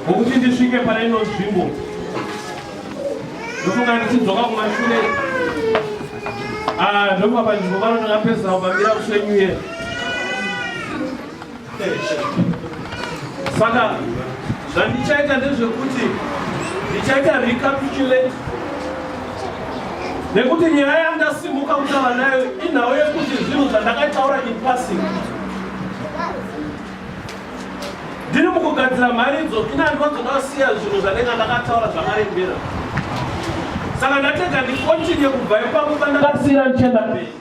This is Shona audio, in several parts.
Ngokuti ndisvike pane ino nzvimbo ndofunga ndichidzoka kumashure ah, ndofunga panzvimbo pano ndakapedzisa kupambira kusvenyuye saka zvandichaita ndezvekuti ndichaita recapitulate nekuti nyaya yandasimuka kutaura nayo inhau yekuti zvinhu zvandakataura in passing ndiri mukugadzira mharidzo ini handina dzoda kusiya zvinhu zvanenge ndakataura zvakarembera saka ndatega ndikontinye kubva ipapo pandakasiira ndichienda mberi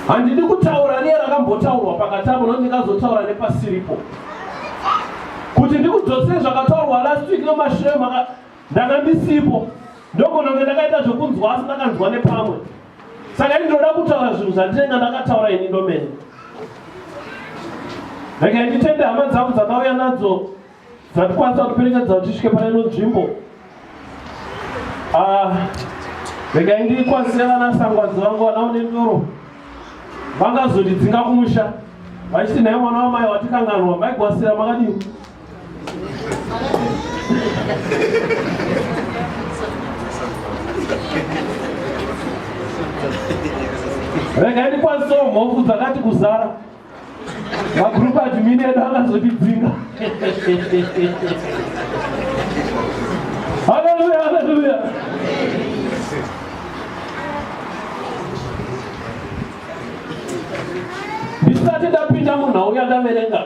handidi kutaura niye rakambotaurwa pakati avo no ndingazotaura nepasiripo kuti ndikudzosei zvakataurwa last week nomashure maka ndanga ndisipo ndogononge ndakaita zvekunzwa asi ndakanzwa nepamwe saka ini ndinoda kutaura zvinhu zvandinenge ndakataura ini ndomene regai nditende hama dzangu dzakauya nadzo dzatikwanisa kuperekedza kuti svike pane ino nzvimbo ah, regai ndikwanise vana sangwadzo vangu vanaone ndoro vangazondidzinga kumusha vachiti nhai mwana wamai watikanganwa maigwasira makadii rega ndikwanisewo mhofu dzakati kuzara magroup admin edu akazotidzinga haleluya haleluya ndisati ndapinda munhau yandaverenga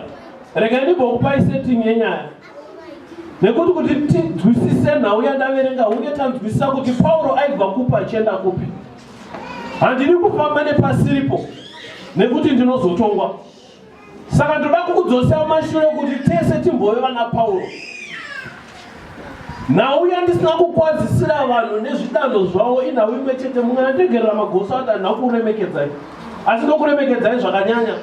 Rega ndimbokupai setting yenyaya nekuti kuti tinzwisise nhau yandaverenga uye tanzwisisa kuti pauro aibva kupa achienda kupi handidi kufamba nepasiripo nekuti ndinozotongwa saka ndoda kukudzosera mashure kuti tese timbove vana pauro nhau yandisina kukwazisira vanhu nezvidanho zvavo inhau imwe chete mungana tegerera magoso adanha kuremekedzai asi ndokuremekedzai zvakanyanya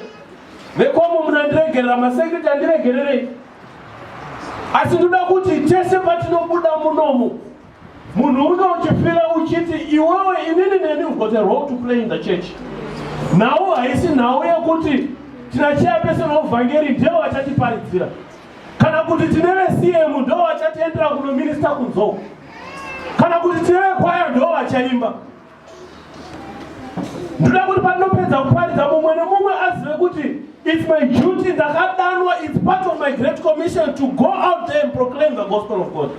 Vekomo munandiregerera masekiriti andiregererei. Asi ndoda kuti tese patinobuda munomu munhu uno uchifira uchiti iwewe inini neni we've got a role to play in the church. Nhau haisi nhau yekuti tinacheya pese novhangeri ndivo vachatiparidzira kana kuti tine vecm ndo vachatiendera kunominista kunzou kana kuti tine vekwaya ndo vachaimba ndoda kuti pandinopedza kuparidza mumwe nemumwe azive kuti its my duty ndakadanwa its part of my great commission to go out there and proclaim the gospel of god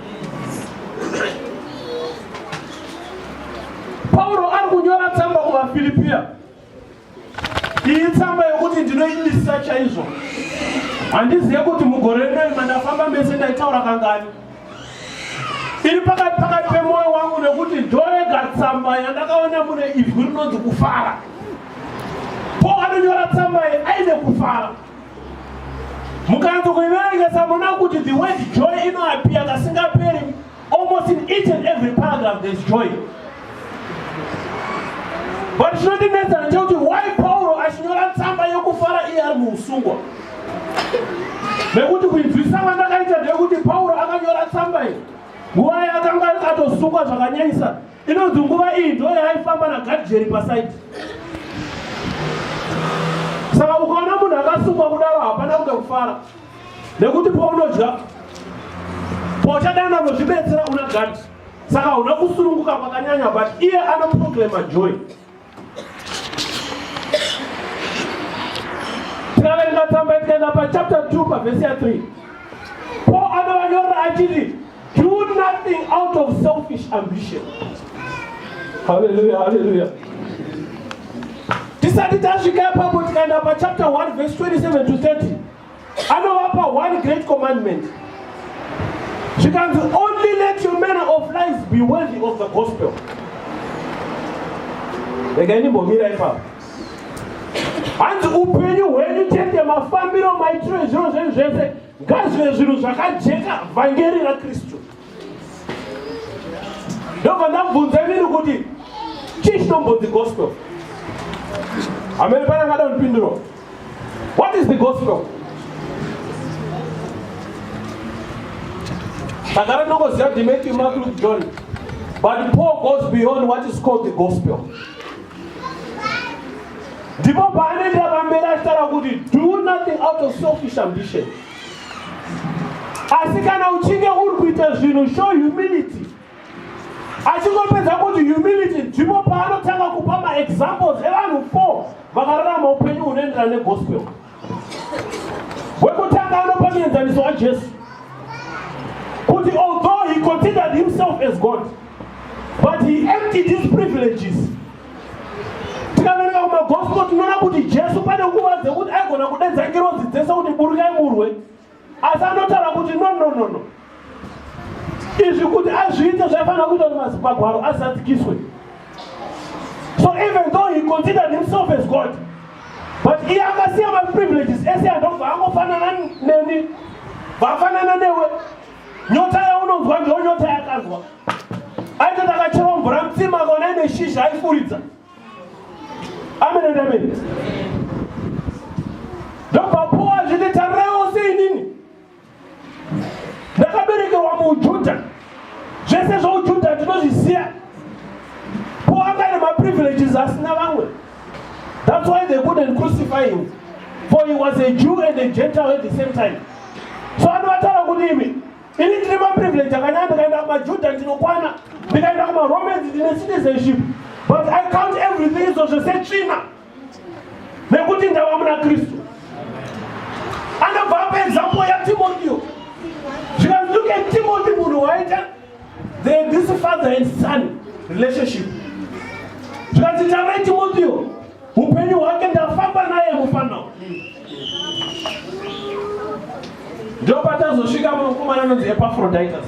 pauro ari kunyora tsamba kuvafiripiya iyi tsamba yokuti ndinoimisisa chaizvo handizive kuti mugore rinoi mandafamba mese ndaitaura kangani iri pakati pakati pemwoyo wangu nekuti ndorega tsamba yandakaona mune ivhu rinonzi kufara po anonyora tsamba iyi aine kufara mukanzi kuiverengesa muna kuti the word joy inoapiya kasingaperi Almost in each and every paragraph there's joy. But chinondinetsa ndechekuti why Pauro achinyora tsamba yokufara iye ari muusungwa. Nekuti kuinzwisa kwandakaita ndeyekuti Pauro akanyora tsamba iyi nguva yaakanga akatosungwa zvakanyanyisa inonzi nguva iyi ndo yaaifamba nagadhijeri pasaidi. Saka ukaona munhu akasungwa kudaro hapana kuda kufara. nekuti paunodya pauchadana unozvibetsera una gati saka una kusununguka kwakanyanya but iye anoproclama joy tikaverenga tsamba tikaenda pachapter 2 pavhesi ya 3 paul anovanyorera achiti Do nothing out of selfish ambition. Hallelujah, hallelujah. Tisati tasvika ipapo tikaenda pachapter 1 verse 27 to 30 anovapa one great commandment zvikanzi only let your manner of life be worthy of the gospel regai ndimbomira ipapo hanzi upenyu hwenyu chete mafambiro maitiro ezviro zvenyu zvese ngazive zvinhu zvakajeka vhangeri rakristu ndobva ndabvunza imini kuti chii chinombonzi gospel hamene pane angada kundipindura what is the gospel takara ndongoziva kuti matthew mark luke john but paul goes beyond what is called the gospel ndipo paanoendera pamberi achitaura kuti do nothing out of selfish ambition asi kana uchinge uri kuita zvinhu show humility achingopedza kuti humility ndipo paanotanga kupa maexamples evanhu four vakararama upenyu hunoenderana negospel wekutanga anopa muenzaniso wajesu kuti although he considered himself as god but he emptied his privileges tikaverenga kumagospel tinoona kuti jesu pane nguva dzekuti aigona kudedza ngirozi dzese kuti burukai murwe asi anotaura kuti no no no no izvi kuti azviite zvaifanira kuita kuti mazimagwaro azadzikiswe so even though he considered himself as god but iye akasiya maprivileges ese andobva angofanana neni vafanana newe nyota yaunonzwa ndiyo nyota yakanzwa aitoti akacherwa mvura mutsima kona ine shizha aifuridza Amen and amen. Ndopapuwa zvine tareo sei nini? Ndakaberekerwa muJuda. Zvese zvouJuda tinozvisiya. Paul anga ine maprivileges asina vamwe. That's why they couldn't crucify him. For he was a Jew and a Gentile at the same time. So anovatara kudimi. ini ndine maprivilege akanyanya ndikaenda kumajuda ndinokwana ndikaenda kumaromans ndine citizenship but i count everything izvo zvese tsvina nekuti ndava muna kristu anobva apa example yatimotio zvikanzi look at timothy munhu waita the this father and son relationship zvikanzi tarai timotio upenyu hwake ndafamba naye mufanao ndopatazosvika mukomana anonzi epafroditus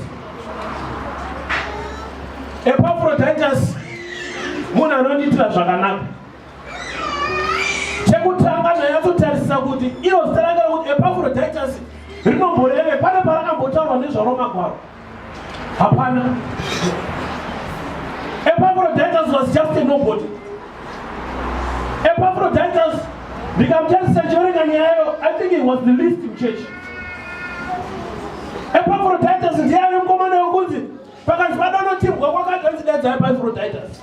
epafroditus munhu anondiitira zvakanaka chekutanga ndanyatsotarisisa kuti iro zita ranga rekuti epafroditus rinomboreve pane parakambotaurwa nezvaro magwaro Hapana. Epaphroditus was just a nobody. Epaphroditus ndikamutadzisa chiverenga nyayo I think he was the least in church. Epaphroditus ndiye ave mukomana wekunzi pakati padonotimbwa kwakati anzi daidzai Epaphroditus.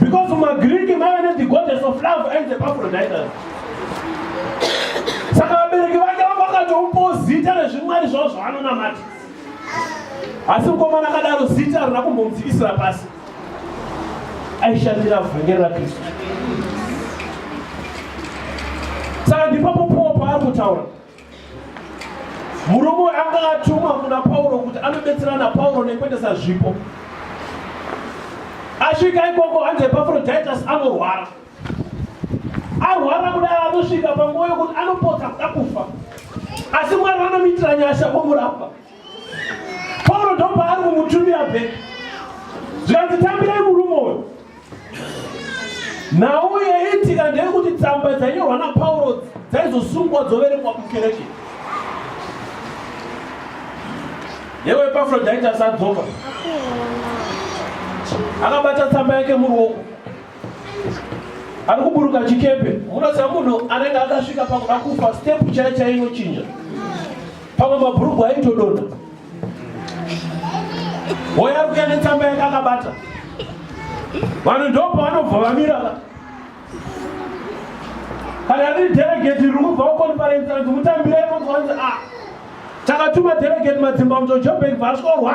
Because from a Greek man, the goddess of love and the Epaphroditus. Saka vabereki vake vanga vakatomupawo zita rezvimwari zvavo zvavanonamata. Asi mukomana akadaro zita harina kumbomudzikisira pasi. Aishandira vhangeri raKristu. Saka ndipapo Paul paari kutaura Murume anga atumwa kuna Pauro kuti anobetsera na Pauro nekuendesa zvipo. Asvika ikoko hanzi Epafrodhitus anorwara. Arwara kudai anosvika panguva yokuti anopotsa kuda kufa. Asi Mwari vanomuitira nyasha omurapa. pauro ndopaari kumutumira be zvikanzi tambirei murume uyo nhau yaitika ndeyekuti tsamba dzainyorwa napauro dzaizosungwa dzoverengwa mukereke yewe epafrodite asadzoka akabata tsamba yake muruoko ari kuburuka chikepe munoziva munhu anenge akasvika pakuda kufa stepu chai chainochinja pamwe mabhurugwa aitodonha hoya kuya netsamba yake akabata vanhu ndopa vanobva vamira kana riri delegate riri kubva kuconference anzi mutambire imozoanzi a ah, takatuma delegate madzimba mutojobank vasvorwa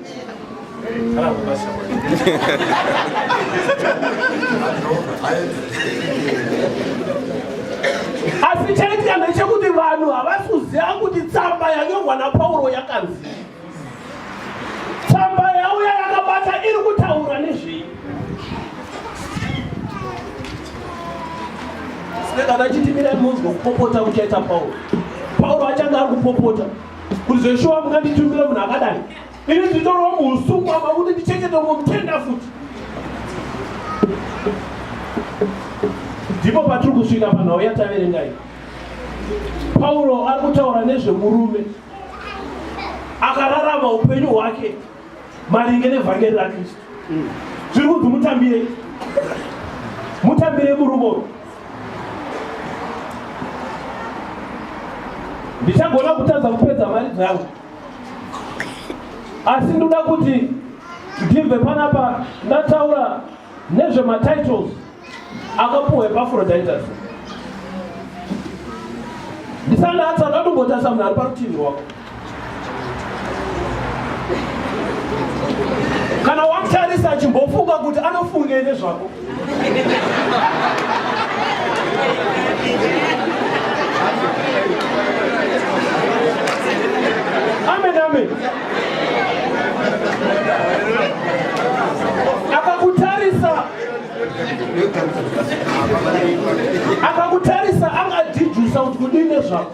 asi chaitya ndechekuti vanhu havasi kuziva kuti tsamba yanyorwa napauro yakanzi tsamba yauya yakabata iri kutaura nezvei sikana chitimirai munzwa kupopota kuchaita pauro pauro achange ari kupopota kuti zveshuwa munganditumire munhu akadai ini nditorwa muusuku apa kuti ndichengete umwe mutenda futi ndipo patiri kusvika panhau yataverengai pauro ari kutaura nezvemurume akararama upenyu hwake maringe nevhangeri rakristu zviri kunzi mutambire mutambire murumoro ndichagona kutadza kupedza mari dzangu asi ndoda kuti ndibve panapa ndataura nezvematitles akapuhwa epafrodaitas ndisanatsa akatombotarisa munhu ari parutivi rwako kana wamutarisa achimbofunga kuti anofungei nezvako amen amen akakutarisa angadhijusa kuti kudii nezvako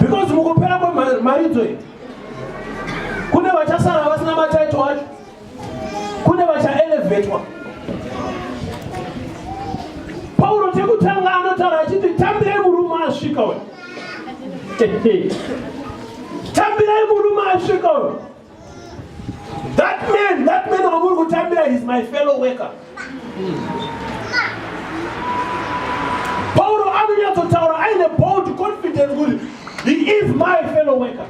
because mukupera kwemaridzo iyi kune vachasara vasina mataito acho kune vachaelevetwa pauro chekutanga anotaura achiti tambirei murume asvika uyo tambirai murume asvika uyo That man, that man wamuri kutambira is my fellow worker. Pauro anonyatsotaura aine bold confidence kuti he is my fellow worker.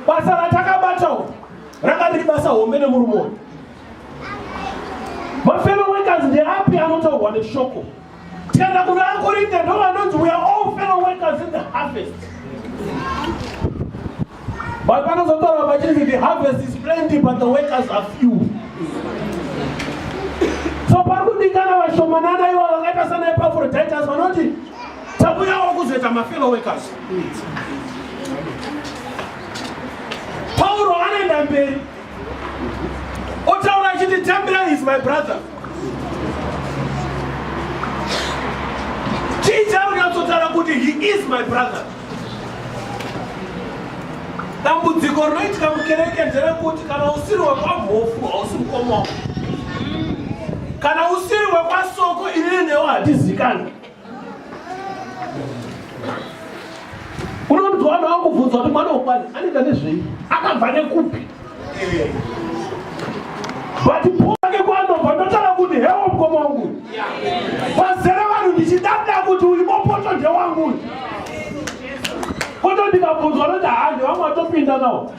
Basa ratakabatawo ranga riri basa hombe nemurume uyu. Mafellow workers ndeapi anotaurwa neshoko tikaenda kuna akorinde ndovanonzi we are all fellow workers in the harvest but panozotaura vachiti the harvest is plenty but the workers are few so pari kudikana vashomanana ivo vakaita sana epafroditers vanoti takuyawo kuzoita mafellow workers pauro anoenda mberi otaura achiti tambira is my brother chii chaunatsotaura kuti he is my brother dambudziko rinoitika mukereke nderekuti kana usiri wekwamhofu hausi mukoma kana usiri wekwasoko inini newo hatizikani unonzwa vanhu vakubvunzwa kuti mwana wokwani anoita nezvei akabva nekupi but poake kwanobva ndotara kuti hewo mukoma wangu vazere vanhu ndichidada kuti uyu mopoto ndewangu uyu poto ndikabvunzwa noti handi vamwe vatopinda nawo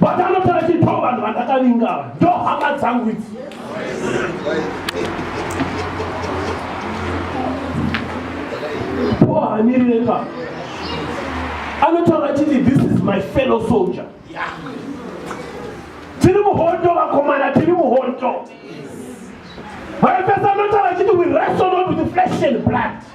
but anoti achipawo vanhu vandakavinga ava ndo hama dzangu idzi pohamirire ka anotaura chiti this is my fellow soldier tiri muhondo vakomana tiri muhondo vaipesa anotaura chiti we wrestle not with flesh and blood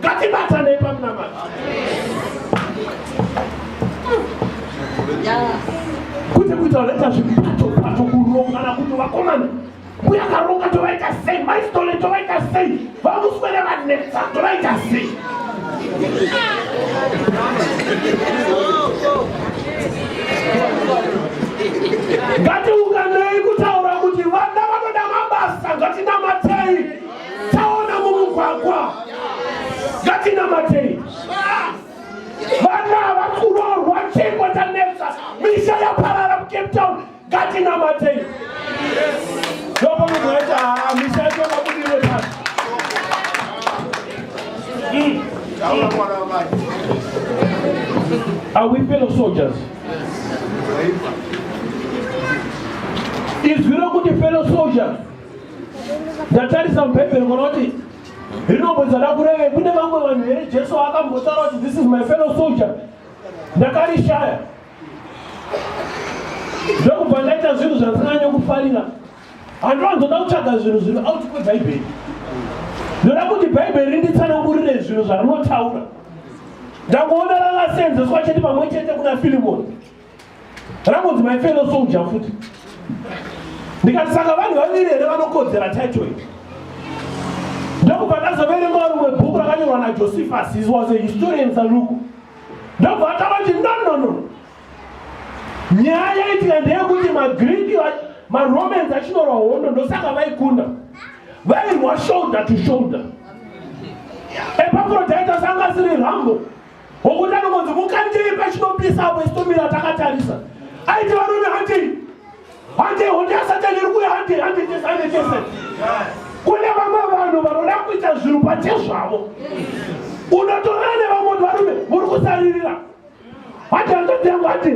ngatibatanei pamunamata kwete kuita vanoita zvipato pato kurongana kuti vakomana mbuya karonga tovaita sei maistole tovaita sei vamuswere vanetsa tovaita sei ngatiunganei kutaura kuti vana vanoda mabasa ngatinamatei taona mumugwagwa ngatinamatei vana vakurorwa chingwa tanetsa misha yaparara mucape town ngatinamatei loko munhu aita haa misha yacho vakudire pasi hmm. Are we fellow soldiers? Yes. Is we don't go to fellow soldiers? ndatarisa mubhaibheri munoti rinombozada kureve kune vamwe vanhu here jesu akambotaura kuti this is my fellow soldier ndakarishaya ndokubva ndaita zvinhu zvandisinganye kufarira handiwanzoda kutsvaga zvinhu zviri out kwebhaibheri ndoda kuti bhaibheri rinditsanangurire zvinhu zvarinotaura ndangoona rakaseenzeswa chete pamwe chete kuna filimoni rangonzi my fellow soldier futi ndikati saka vanhu vaviri here vanokodzera title iyi ndokubva ndazoverengawo rimwe bhuku rakanyorwa najosephus his was a historian saluku ndobva atava kuti nonono nyaya yaitika ndeyekuti magriki maromans achinorwa hondo ndosaka vaikunda vairwa shoulder to shoulder epafrodite asanga asiri rambo Hokuti anongonzi mukandei pachinopisa apo isitomira takatarisa. Aiti varume handei. Handei honde yasatani iri kuya handei handei tese handei tese. Kune vamwe vanhu vanoda kuita zvinhu pachezvavo. Unotorana nevamwe kuti varume muri kusaririra. Hati hanzvadzi yangu hati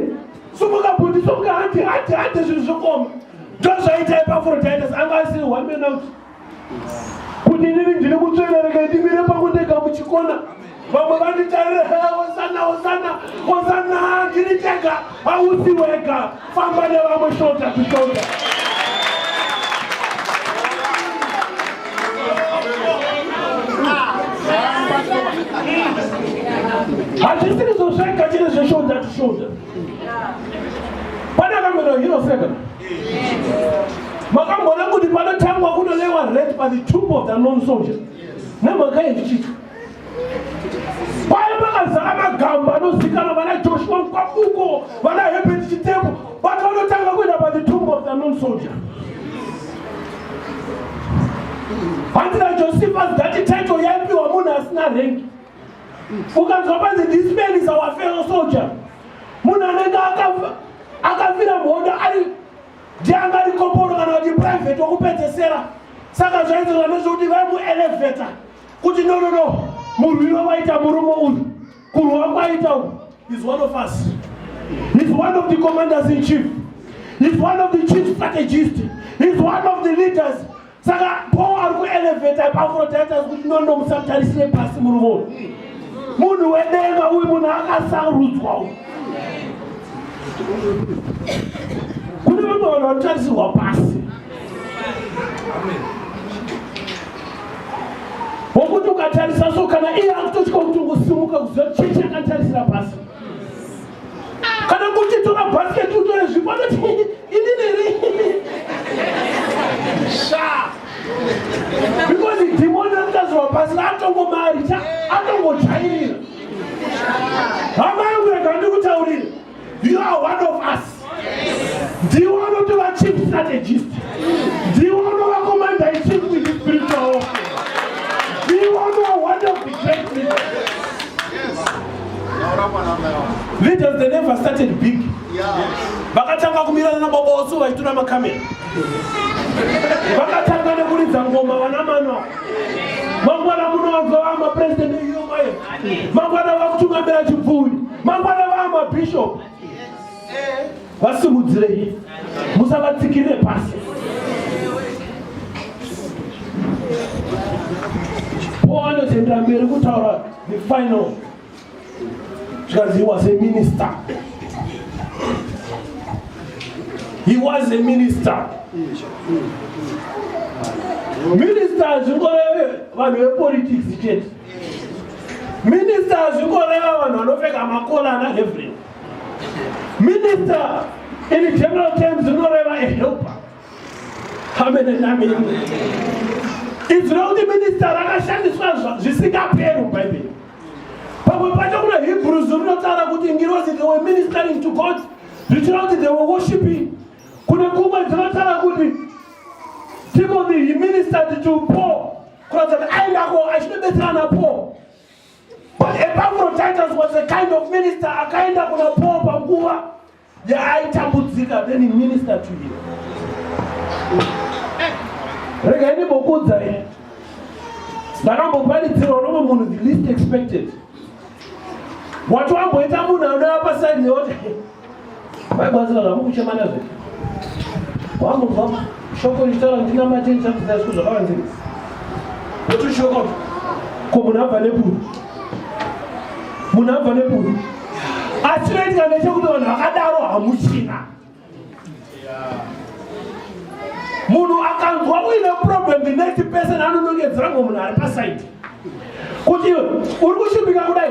sumuka bhuti sumuka hati hati hati zvinhu zvokoma. Ndozvaita ipafuro taita anga asiri one man out. kuti ndiri ndiri kutsvera rega ndimire pakundega muchikona vamwe vanditarire hosana hosana hosana ndiri tega hausi wega famba nevamwe shota kushota hazvisiri zvozvega chine zveshota tishota Pane akamboita hero seka. Makamboona kuti panotangwa kunolewa rate by the troop of the non soldier. Nemhaka yezvichito. Paya pakazara magamba anozikana vana Joshua Mkwakuko, vana Herbert Chitebo, vati vanotanga kuenda by the troop of the non soldier. Hanzi naJosephus dati title yaipiwa munhu asina rengi. ukanzwa panzi this man is our fellow soldier munhu anenge akafira mhondo ari ndianga ari koporo kana kuti private wokupedzesera saka zvaizozva nezvekuti vaimueleveta kuti no no no munhu iwe waita murume uyu kurwa kwaita uyu is one of us is one of the commanders in chief is one of the chief strategist is one of the leaders saka paul ari kueleveta epafrodite kuti nondo musatarisire pasi murumo munhu wedenga uyu munhu akasarudzwa uyu kune vamwe vanhu vanotarisirwa pasi wokuti ukatarisa so kana iye akutotya kuti ungosimuka kuziva chechi akatarisira pasi kana kuti tora bhasiketi utore zvipo anoti ini neri sha because dhimoni rakazowa pasi atongomaricha atongojairira hama yangu rega ndikutaurire you are one of us ndiwo anoti vachief strategist ndiwo anova commander ichief with spiritual ndiwo anova one of the great leaders Leaders they never started big. Vakatanga kumirana na baba wasu vachitura makamera. Vakatanga nekuridza ngoma vana manwa. Mangwana muno vazova mapresident eUMIF. Mangwana vakutungamira chipfuuri. Mangwana vaa mabishop. vasimudzirei musavatsikirire pasi paul anozoendera mberi kutaura the final zvikanzi he was a minister he was a minister minister zvingoreve vanhu vepolitics chete minister zvingoreva vanhu vanopfeka makolana everything Minister in general terms unoreva a helper. Amen and amen. It's not the minister rakashandiswa zvisingaperu Bible. Pamwe pacho kuna Hebrews rinotaura kuti ngirozi they were ministering to God zvichira kuti they were worshiping. Kune kumwe dzinotaura kuti Timothy he ministered to Paul kuratidza kuti aendako achinobetsera naPaul. Epaphroditus was a kind of minister akaenda kuna Paul panguva yaaitambudzika then he ministered to him. Rega ini bokudza ini. Ndakamboparidzirwa nomwe munhu the least expected. Wati wamboita munhu anouya pasaidi yoti Vaibazira zvavo kuchema nazvo. Wamunzwa shoko richitaura kuti namate ndichakudzai zviko zvakavanzika. Kuti shoko ko munhu abva neburu. Munhu abva neburu. Asi chinoitika ndechekuti vanhu vakadaro hamuchina. Munhu akanzwa uine problem the next person anonongedzera ngomunhu ari pasaidi. Kuti uri kushupika kudai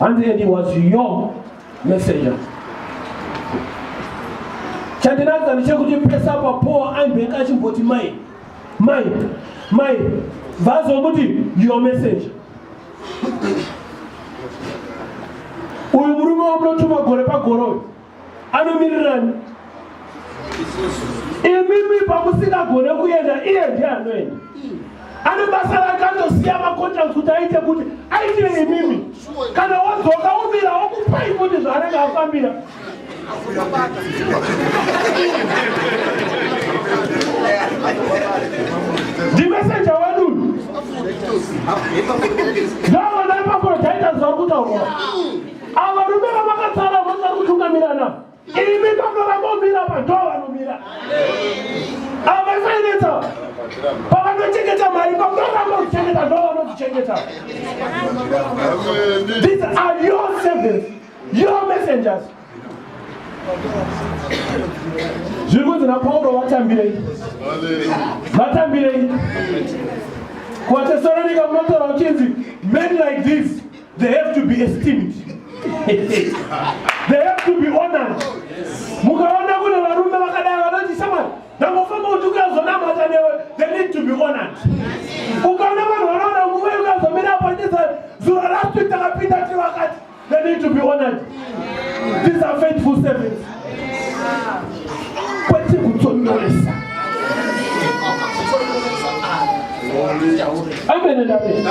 And then he was your messenger. Chandinadza ndichekuti pesa papoa aimbeka achimboti mai mai mai vazomuti your messenger. Uyu murume wamunotuma gore pagore uyu anomirirani imimi pamusingagone kuenda iye ndiye anoenda ane basa rake anosiya macontracts kuti aite kuti aitire imimi kana wadzoka umira okupai kuti zvaanenge afambira ndimesenja wedu ndavana ipapo daita zvakuta Ava rume vavakatsara vanoda kutungamirana. Imi panoramba kumira padho vanomira. Ava fainetsa. Pavanochengeta mari panoramba kuchengeta ndo vanodzichengeta. These are your servants, your messengers. zviri kunzi napauro vatambirei vatambirei kuvatesoronika munotaura uchinzi men like this They have to be esteemed. They have to be honored. Mukaona kune varume vakadai vanoti shamwari ndangofamba kuti ukazonamata newe they need to be honored. Ukaona vanhu vanoona nguva yokazomira apo ndisa zuro last week takapinda tivakati they need to be honored. These are faithful servants. kwete kutonyoresa amen and amen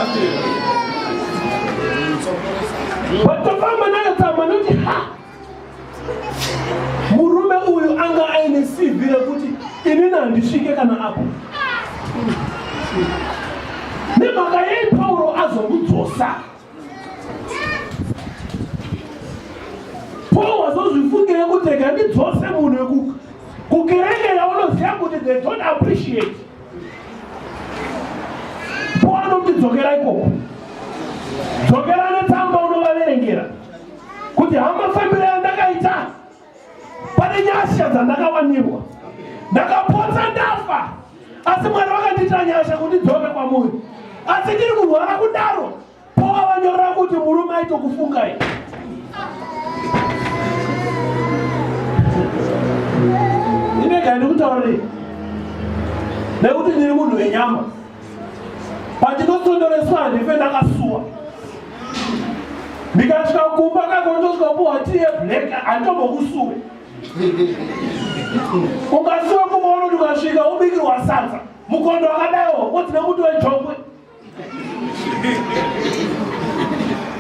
vatofamba nayo tsamba noti ha murume uyu anga aine cv rekuti inini handisvike kana apo nemhaka yei pauro azomudzosa Paul wazozvifungira kuti rega ndidzose munhu wekuka kukereke yaunoziva kuti they don't appreciate Paul anoti dzokera ikoko dzokera netsamba unovaverengera kuti hamafambiro yandakaita pane nyasha dzandakawanirwa ndakapotsa ndafa asi mwari vakandiitira nyasha kuti dzone kwamuri asi ndiri kurwara kudaro pova vanyora kuti murume aitokufungai inega ndikutaurei nekuti ndiri munhu wenyama pandinotondoreswa handife ndakasuwa ndikasvika kumba kakondosvika kupuhwa tiye black handitombokusuwe ukasuwa kumaono ndikasvika ubikirwa sadza mukondo wakadaiwo wodzina kuti wejokwe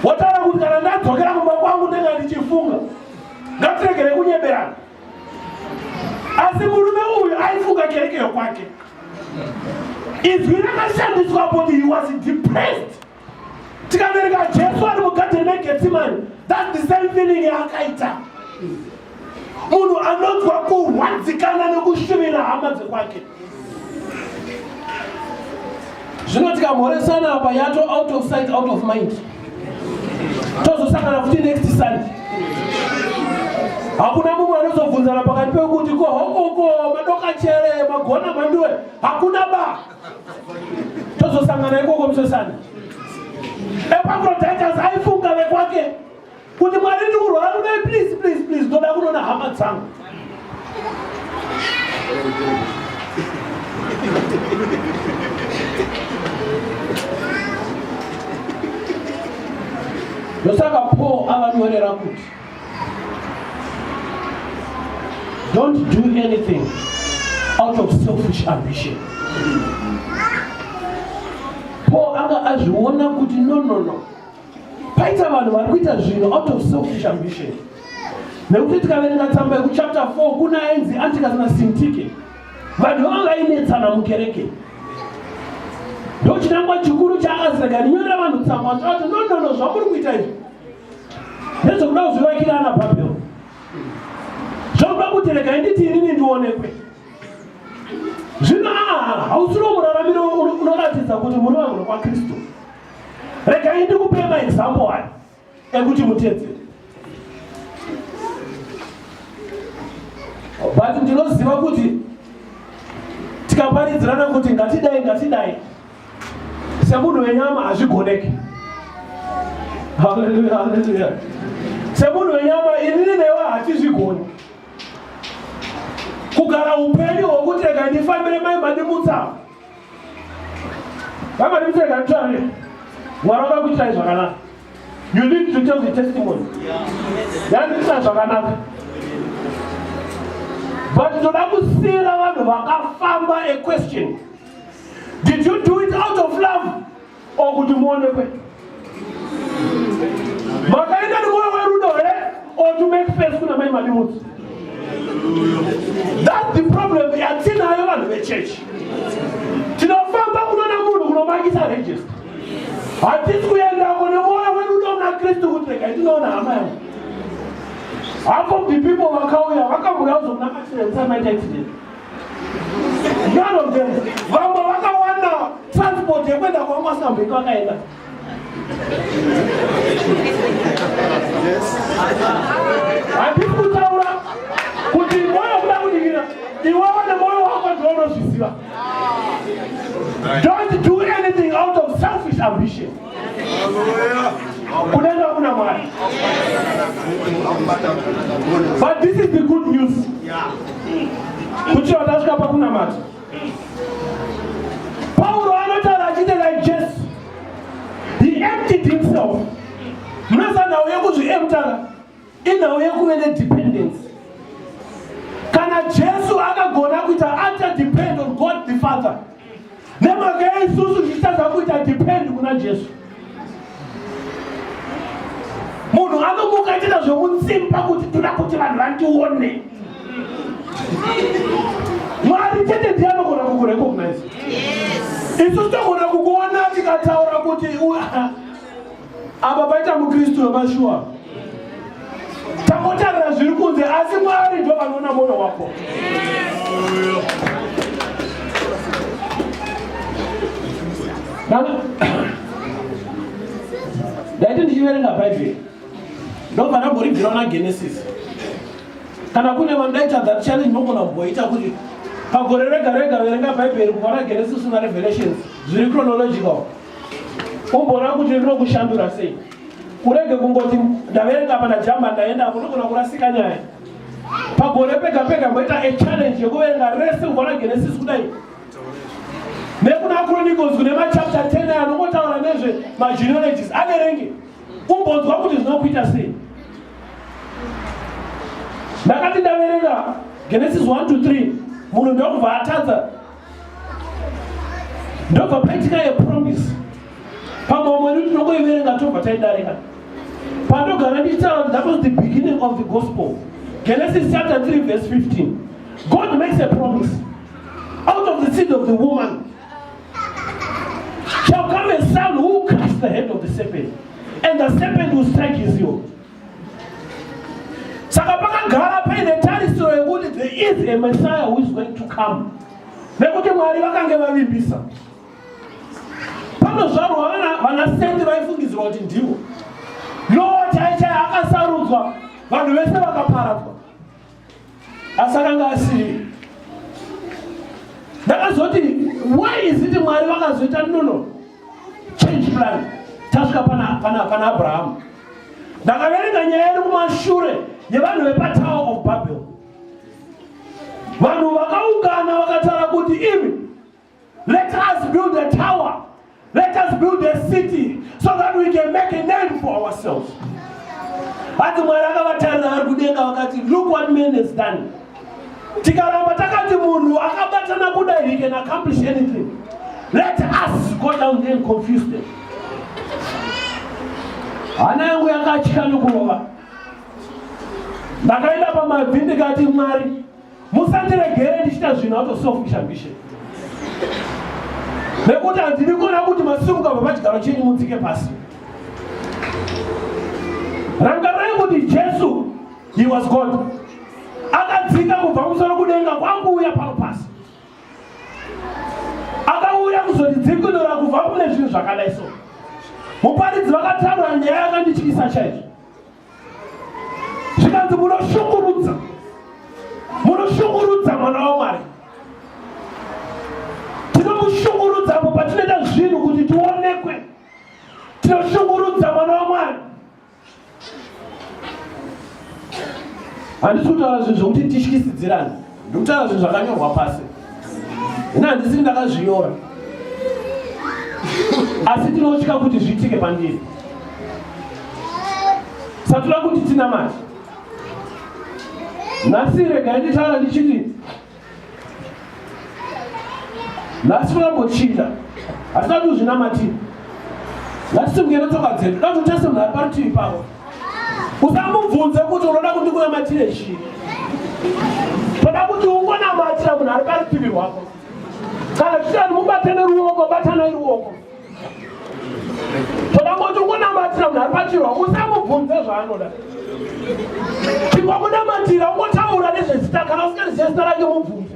wotaura kuti kana ndadzokera kumba kwangu ndanga ndichifunga ngatiregere kunyeberana asi murume uyu aifunga kereke yokwake izwi rakashandiswa kuti he was depressed tikavereka jesu ari mugadheni megetsimani that the same feeling yaakaita munhu anonzwa kurwadzikana nekushuvira hama dzekwake zvino tikamhoresana apa yato out of sight out of mind tozosangana futi next sunday hakuna mumwe anozobvunzana pakati pekuti ko hokoko madoka chere magona manduwe hakuna ba tozosangana ikoko musosana epafroditers aifunga vekwake kuti mwari ndi kurwara kudai please please please ndoda kunoona hama dzangu ndosaka paul avanyorera kuti don't do anything out of selfish ambition paul anga azviona kuti no no no paita vanhu vari kuita zvinhu out of selfish ambition nekuti tikaverenga tsamba yekuchapter 4 kuna ainzi antikasina sintike vanhu vanga vainetsana mukereke ndochinangwa chikuru chaakazirega ndinyorera vanhu tsamba aati nonono zvamuri kuita izvi nezvekuda kuzvivakira ana bhabhero zvakuda kuti regai nditi inini ndionekwe zvino aa hausiro muraramiro unoratidza kuti muri vanhu kwakristu regai ndikupei maexample aya ekuti mutedzere but ndinoziva kuti tikaparidzirana kuti ngatidai ngatidai semunhu wenyama hazvigoneki haleluya haleluya semunhu wenyama inini newe hatizvigoni kugara upenyu hwokuti rega ndifambire mai madimutsa Vamwari mutenda mutare waramba kuitai zvakanaka. You need to tell the testimony. Yandiita zvakanaka. But toda kusiira vanhu vakafamba a question. Did you do it out of love? or kuti muonekwe makaenda nemwoyo werudo here or to make face kuna mai madimutsi that the problem yatinayo vanhu vechechi tinofamba kunona munhu kunomangisa register hatisi kuendako nemwoyo werudo muna kristu kuti regai tinoona hama yangu hapo the people vakauya vakamurauza kuna accident samaita accident None of them. Vamwe vakawana transport yekuenda kwamasambiko akaenda. Handisi kutaura kuti moyo kuda kudikira iwewe nemoyo wako ndiwo unozviziva. Don't do anything out of selfish ambition. kudenga kuna mwari but this is the good news kuchiva tasvika pakunamata pauro anotaura achiite like jesu he emptied himself munosanhau yekuzviemtara inhau yekuve nedependence kana jesu akagona kuita ata depend on god the father nemhaka yeisusu zvichitadza kuita depend kuna jesu munhu anomuka achiita zvemutsimba kuti toda kuti vanhu vandione mwari chete ndiye anogona kukurecognize isu togona kukuona tikataura kuti apa paita mukristu wemashuwa tangotarira zviri kunze asi mwari ndo vanoona mwoyo wako ndaiti ndichiverenga bhaibheri ndobva ndamboribvira una genesis kana kune vandaita that challenge mogona kumboita kuti pagore rega rega verenga bhaibheri kubva na genesis una revelations zviri chronological umboona kuti rinokushandura sei urege kungoti ndaverenga pana jamba ndaenda apo ndogona kurasika nyaya pagore pega pega mboita a challenge yekuverenga rese kubva na genesis kudai nekuna chronicles kune machapter 10 aya anongotaura nezve magenealogies averenge umbonzwa kuti zvinokuita sei ndakati ndaverenga genesis 1 to 3 munhu ndokubva atadza ndobva paitika yepromise pamwe vamwe ni tinongoiverenga tobva taidarika pandogara ndichitaura that was the beginning of the gospel genesis chapter 3 verse 15 god makes a promise out of the seed of the woman shall come a son who will crush the head of the serpent and the serpent will strike his heel saka pakagara paine tarisiro yekuti there is a messiah who is going to come nekuti mwari vakange vavimbisa panozvarwa vanasendi vaifungidzirwa kuti ndivo loo chaichai akasarudzwa vanhu vese vakaparadzwa asi akanga asiri ndakazoti why is it mwari vakazoita nono change plan tasvika pana, pana, pana abrahamu ndakaverenga nyaya iri kumashure yevanhu vepatower of babel vanhu vakaungana vakataura kuti imi Let us build a tower. Let us build a city so that we can make a name for ourselves. Hati Mwari akavatarira vari kudenga vakati, look what man has done. Tikaramba takati munhu akabatana kudai he can accomplish anything. Let us go down there and confuse them. Hana yangu yakatya nokurova. Ndakaenda pamabvi ndikati Mwari musandiregere ndichita zvinhu out of selfish ambition nekuti handidi kuona kuti masimuka pamachigaro chenyu mudzike pasi rangarai kuti jesu he was god akadzika kubva musoro kudenga kwakuuya pano pasi akauya kuzotidzikinura kubva kune zvinhu zvakadai so muparidzi vakataura nyaya yakandityisa chaizvo zvikanzi munoshungurudza munoshungurudza mwana wamwari tinomushungurudza apo patinoita zvinhu kuti tionekwe tinoshungurudza mwana wamwari handisi kutaura zvinhu zvokuti tityisidzirani ndikutaura zvinhu zvakanyorwa pasi ini handisiri ndakazvinyora asi tinotya kuti zviitike pandiri satoda kuti tinamati nhasi regai nditaura ndichiti nhasi toda kumbochinda hatisati kuzvinamatira ngatisimuke netsoka dzedu datotasemhari parutivi pavo usamubvunze kuti unoda kuti kunamatire chii toda kuti ungonamatira munhu ari parutivi rwako kana tichitani mubatane ruoko batanai ruoko toda kuti ungonamatira munhu ari pachiri wako usamubvunze zvaanoda chikwakunamatira ungotaura nezvezita kana usingarizive zita rake mubvunze